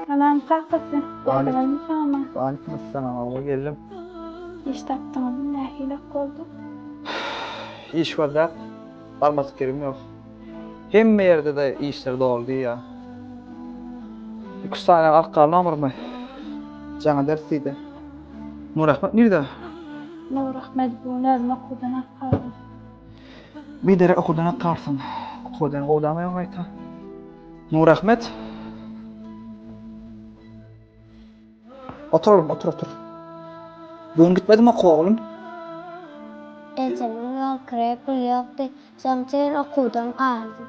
Salam kakasy. Waleýkim salam. Waleýkim salam ogul geldim. Iş tapdyňyzmy nähili ok boldy. Iş bardak barmadyk ýerim ýok. Hemme ýerdede işler doly diýýä. Iki üç sany alyp galdy nomerymy. Jaňa ders diýdi. Nurahmet nirde? Nurahmet bu gün özüm okuwdan alyp galdym. Bideri okudan at garsyn. Okuwdan gowdamaýaň gaýta. Nurahmet. Otur oglum, otur, otur. Bu gün gitmediňmi okuwa oglum? Ejemiň ýol kireý puly ýokdy. Şonuň üçin okuwdan galdym.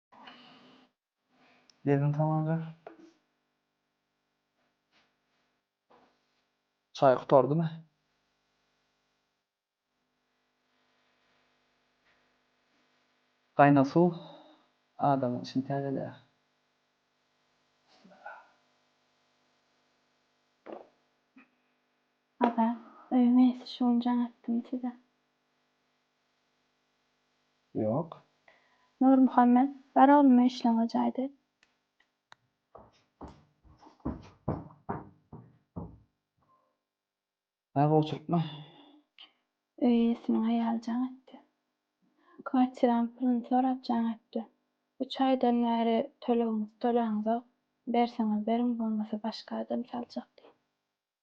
Gelin tamanja. Çaý gutardymy? Gaýna suw adamyň içini täzeleýär. Ada, öýüň eýesi şu gün jaň etdim size. Ýok. Nurmuhammet, bar oglum işleňe jaýda. Dagy oturtma. Öý eýesiniň aýaly jaň etdi. Kwartiranyň puluny sorap jaň etdi. Üç aýdan bäri tölegiňizi tölänizok. Berseňiz beriň, bolmasa başga adam saljak diýip.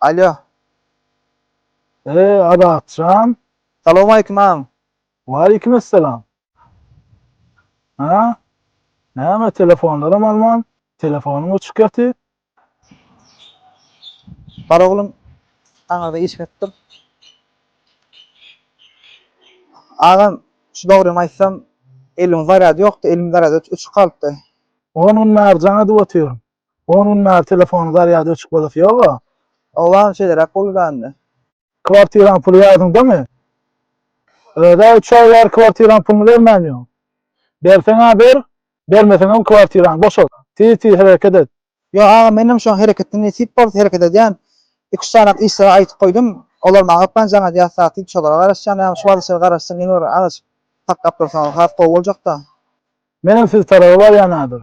Alýo. Eee Adatjan. Salowmaleýkim agam. Waleýkimessalam. Hä? Näme telefonlaram alman, telefonyň öçük ýaty? Bar oglum, aňyrda iş berip dur. Agam, şu dogrymy aýtsam, elimiň zarýady ýokdy, elimiň zarýady öçük galypdy. On gün Märjana edip otyryn. On gün bäri telefonyň zarýady öçük bolasy ýoga. Oglan şeýleräk gürlände. Kwartiraň puly ýadyňdamy? Öz-ä üç aý bäri kwartiraň puluny bermän ýör. Berseň-ä ber, bermeseňem kwartiraňy boşat. Tiz-tiz hereket et. Ýok aga, menem şoň hereketini nesip bolsa hereket edýän. Iki-üç sanak işlere aýytyp goýdum. Olar maňa hökman jaň edýär satyp, şolara garaşýan. Ýa şu wagt işlere garaşsam ýene bir agaç saklap dursaňyz has gowy boljak-da. Menem siz taraba barýan häzir.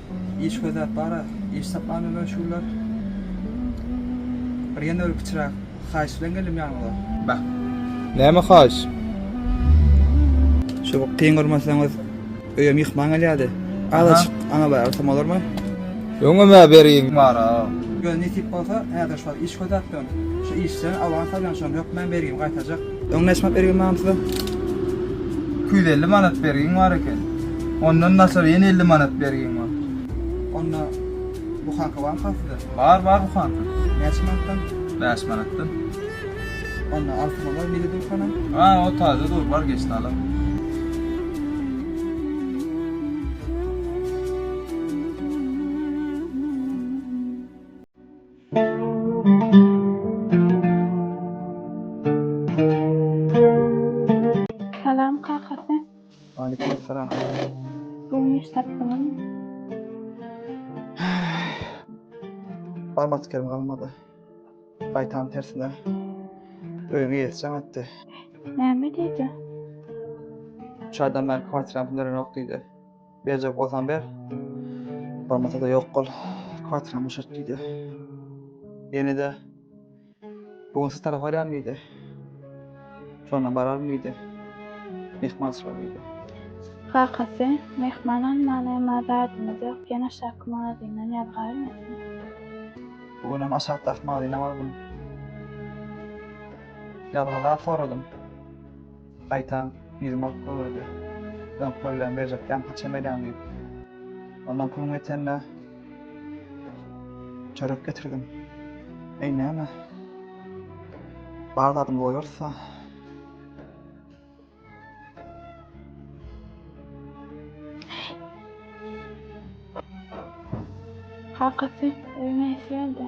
Iş gözläp bara, iş tapmanda möşgüller. Bir ýene bir kiçiräk haýyş bilen geldim ýanyňyza. Näme haýyş? Şu kyn görmeseňiz, öýe myhman gelýärdi. Azajyk aňa bäri ursam bolarmy? Öňem-ä bergim bar-a. Ýöne nesip bolsa, häzir şol iş gözläp durun. Şu işçilerini awans alýan, şonuň hökmany bergimi gaýtarjak. Öň näçe manat bergi mam size? Iki ýüz elli manat bergiň bar eken. Ondan naçar ýene elli manat bergiň bar. Onda buhanka barmyka sizde? Bar, bar buhanka. Näçe manatdan? Bäş manatdan. Onda altyn bolar mili dur hanam? Ha, o taze dur, bar geçdi alar. Salam kakasy. Waleýkim salam. Bugün iş tapdyňyzmy? Barma askerim galmady. Gaýtam tersine öýüňe ýetişen aýtdy. Näme diýdi? Üç aýdan bäri kwartiram pul berenok diýdi. Berjek bolsaň ber. Bolmasa-da ýok bol. Kwartirany boşat diýdi. Ýene-de Bu gün siz tarap barýaryn diýdi. Şonda bararyn diýdi. Myhman şo diýdi. Kakasy, Myhman almaly, emma zadymyz ýok, ýene aşaky magazyndan ýazgarmysyň? Bu günem aşakdaky magazyna bardym. Ýazgy zat soradym. Gaýtam ýüzüme pul urdy. Öň köllem berjekkäm haçan berýäň diýip. Ondan puluň ýetende çörek getirdim. Eý näme? Bar zadymy goýarys-a. Kakasy öýüňe ýetiberde.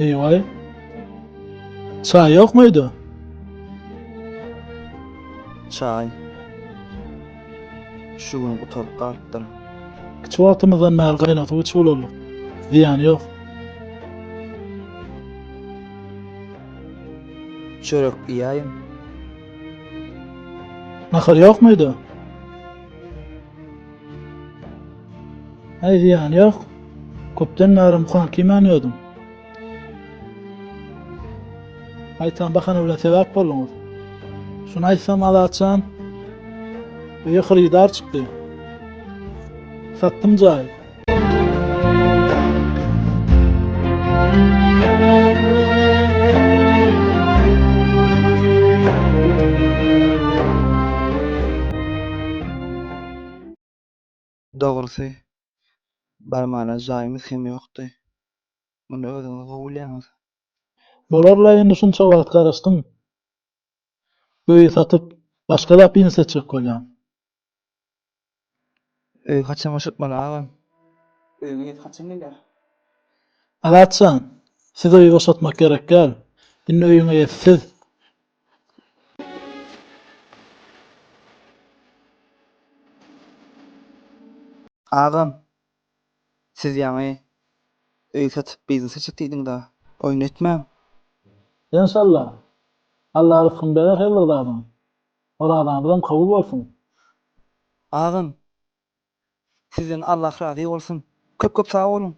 Eýwaý. Çaý ýok muydu? Çaý. Şu gün gutaryp galypdyr. Kiçi wagtymyzdan bäri gaýnag suw içip ulaldyk. Zyýany ýok. Çörek iýäýiň. Nahar ýok mydy? Häý, zyýany ýok. Köpden bäri mukan kiýmän ýördüm. Gaýtam bahana bilen sebäp bolduňyz. Şuny aýtsam, Azat jan, öýe hyrydar çykdy. Satdym jaýy. Dogrusy, barmana jaýymyz hem ýokdy. Muny özüňiz gowy bilýäňiz. Bolarla indi şunça wagt garaşdyň. Öýi satyp, başga zat bilen setjek bolýaň. Öý haçan boşatmaly agam. Öýüňe ýet haçan gelýär. Azat jan siz öýi boşatmak gerek däl indi öýüňe ýet siz. Agam siz ýaňy öý satyp biznese çyk diýdiňda oýun etmäň. Enşalla. Alla ryskyny berer her bir zadyň. Orazanyzam kabul bolsun. Agam sizden Allah razy bolsun köp köp sag boluň.